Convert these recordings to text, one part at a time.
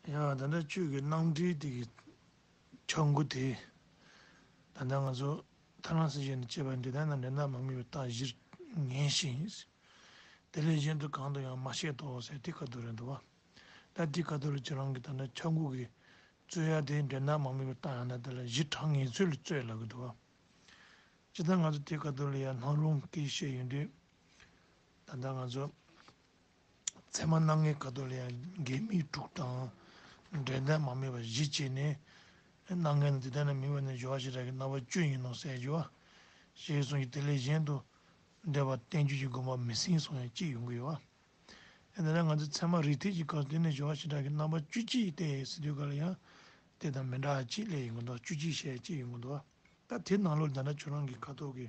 ཡང་ད་ལྟ་ཁྱོད་ཀྱི་སྣང་འཕྲིན་དེ་གི་འཆར་སྒོ་དེས། ད་ལྟ་ང་ཚོ་ཐ་ན་སེར་བྱེས་ནས་སྐྱེས་པ་འདི་དག་ནང་འདྲེ་ནག་མ་ངེས་པའི་རྟགས་གཞིར་ངེས་ཤིང། དེ་ལས་གཞན་དུ་གང་དུ་ཡང་མ་ཤེས་དོགས་ཟེར་ཏི་ཀ་ཏོ་རེད་འདུག་བ། ད་ཏི་ཀ་ཏོ་རེ་ཁྱོད་རང་གི་ད་ལྟ་འཆར་སྒོ་གི་རྩོད་ཡ་དེ་འདྲེ་ནག་མ་ངེས་པའི་རྟགས་ཡང་ན་དེ་ལ་གཞི་གྲངས་ངེས་ཚོད་ལ་རྩོད་ལབ་གི་འདུག་བ། ཇི་ལྟར་ང་ཚོ་ཏི་ཀ་ཏོ་རེ་ཡར་ལྷང་ལྷུང་གིས་བཤད་ཡོད་དུས། ད་ལྟ་ང་ཚོ། ཚད་མ་སྣ་ལྔའི་ཁ་དོག་ལ་ཡང་འགལ་དམིགས་དྲུག་དང། འབྲེལ་ལྡན་མ་མེད་པ་བཞི་བཅས་ནས། སྣ་ལྔའི་ནི་དེ་ལྟ་ན་མིང་བས་ནི་སྦྱོར་བ་ཞེས་གྲགས་ཀྱི་རྣམ་པ་བཅུ་ཡིན་ནོ་ཟེར་གྱི། ཞེས་གསུངས་ཀྱི་དེ་ལས་གཞན་དུ། འགྲེལ་པ་བསྟན་བཅོས་ཀྱི་དགོངས་པ་མི་ཟིན་སོང་ཡང་ཅི་ཡོང་གི་ཡོད། དེ་ལྟ་ན་ང་ཚོས་ཚད་མ་རིགས་ཐེག་གི་སྐབས་དེ་ནས་སྦྱོར་བ་ཞེས་གྲགས་ཀྱི་རྣམ་པ་བཅུ་གཅིག་བལྟས་ཟིན་དུས་ག་ལ་ཡང་དེ་དང་མི་འདྲ་ཅིག་ལས་ཡོང་གི་འདུག་བཅུ་གཅིག་ཞེས་ཅི་ཡོང་གི་འདུག་ད་དེ་ནང་ལོགས་འདི་འདྲ་ཁྱོད་རང་གི་ཁ་དོག་གི།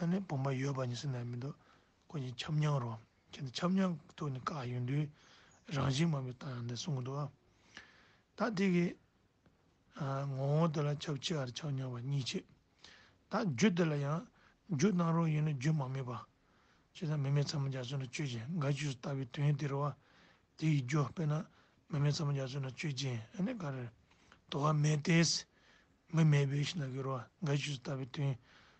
ཨ་ནེ་བུམ་པ་ཡོད་པ་ཉི་སེར་ན་མི་འདུག་ཁོ་གཉིས་ཆབ་མྱངས་རོགས་ཁྱེད་འདི་ཆབ་མྱངས་ཀྱི་ཐུགས་ནས་བཀག་ཡོང་དུས་རང་བཞིན་མ་མི་བཏང་ཡང་འདི་གསུང་གི་འདུག་ཨ། ད་འདི་གི། ངོ་བོ་འདི་ལ་ཆབ་ཆེ་བར་ཆགས་མྱངས་པ་གཉིས་ཆེ། ད་རྒྱུ་འདི་ལ་ཡང་རྒྱུ་གནང་རོགས་ཡིན་ན་རྒྱུ་མ་མེད་པ། ཅི་ད་མི་མེད་ཚ་མོ་རྒྱ་མཚོས་ན་གཅོད་ཅིང་དགའ་བྱུས་སུ་ལྟ་བའི་དོན་དེར་བ། དེ་ཡི་རྒྱུ་དཔེར་ན་མི་མེད་ཚ་མོ་རྒྱ་མཚོས་ན་གཅོད་ཅིང་ཨ་ནེ་ག་རེ། དོ་བ་མེད་དེས། མི་མེད་པའི་ཞིང་ལ་གི་རོ་དགའ་བྱུས་སུ་ལྟ་བའི་དོན།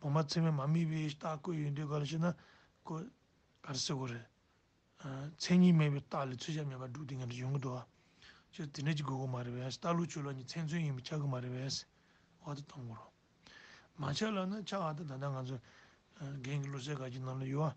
བུ་མ་ཚེ་མས་མ་དམིགས་པའི་རྟགས་བཀོད་ཡོད་འདོད་ག་ལ་ཞེ་ན། གོ། ག་རེ་སེ་གོ་རེ། མཚན་ཉིད་མེད་པའི་རྟགས་ལས་ཚུལ་ཞབས་ཉམས་པ་དྲུག་དེ་ངེས་པར་འབྱུང་གི་འདུག་བ། སྤྱིར་དེ་འདྲས་ཀྱི་དགོས་མཁོ་མ་རེད་བས་རྟགས་ལུགས་ཆོས་ལོག་གཉིས་མཚན་མཚོན་ཡིན་པས་ཆགས་ཀྱི་མ་རེད་བས། བ་དེ་གཏོང་གི་རོགས། མ་ཆགས་ལ་ནི་ཆགས་ཨ་ད་ད་ལྟ་ང་ཚོ་རྒན་གྱི་བློ་གསལ་ག་གྱི་ནང་ལ་ཡོད་བ།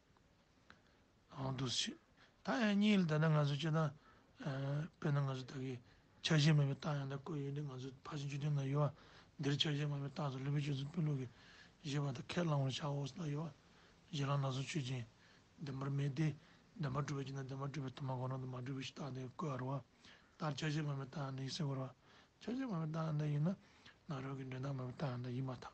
ཨང་དུ་སྲིད། ད་ཡང་གཉིས་ལ་ད་ནི་ང་ཚོས་སྤྱི་བཏང། དཔེར་ན་ང་ཚོ་ད་གིས་ཆ་ཤས་མེད་པའི་རྟགས་ཡང་དག་བཀོད་ཡོད་དེ་ང་ཚོས་ཕར་ཕྱིན་བཅུ་བདུན་ན་ཡོད། འདིར་ཆ་ཤས་མེད་པའི་རྟགས་སུ་ལུས་པའི་ཆོས་ཚུལ་དཔོན་ལུགས་ཀྱི་བཞེད་པ་དང་ཁས་བླང་བར་བྱའོ་ཟེར་ན་ཡོད། གཞན་ལ་ན་ཚོད་ཆོས་ཅན། བདེན་པར་མེད་དེ། བདེན་པར་གྲུབ་པའི་རྐྱེན་དང་བདེན་པར་གྲུབ་པའི་དུ་མ་གོ་རང་དུ་མ་གྲུབ་པའི་རྟགས་དེ་བཀོད་རོགས། ལྟར་ཆ་ཤས་མེད་པའི་རྟགས་ཡང་དག་ཡིན་སེམས་ཁོ་རོགས། ཆ་ཤས་མེད་པའི་རྟགས་ཡང་དག་ཡིན་ན། ནཱ་རོ་ཀི་འདྲེན་སྟངས་མེད་པའི་རྟགས་ཡང་དག་ཡིན་མ་ཐག།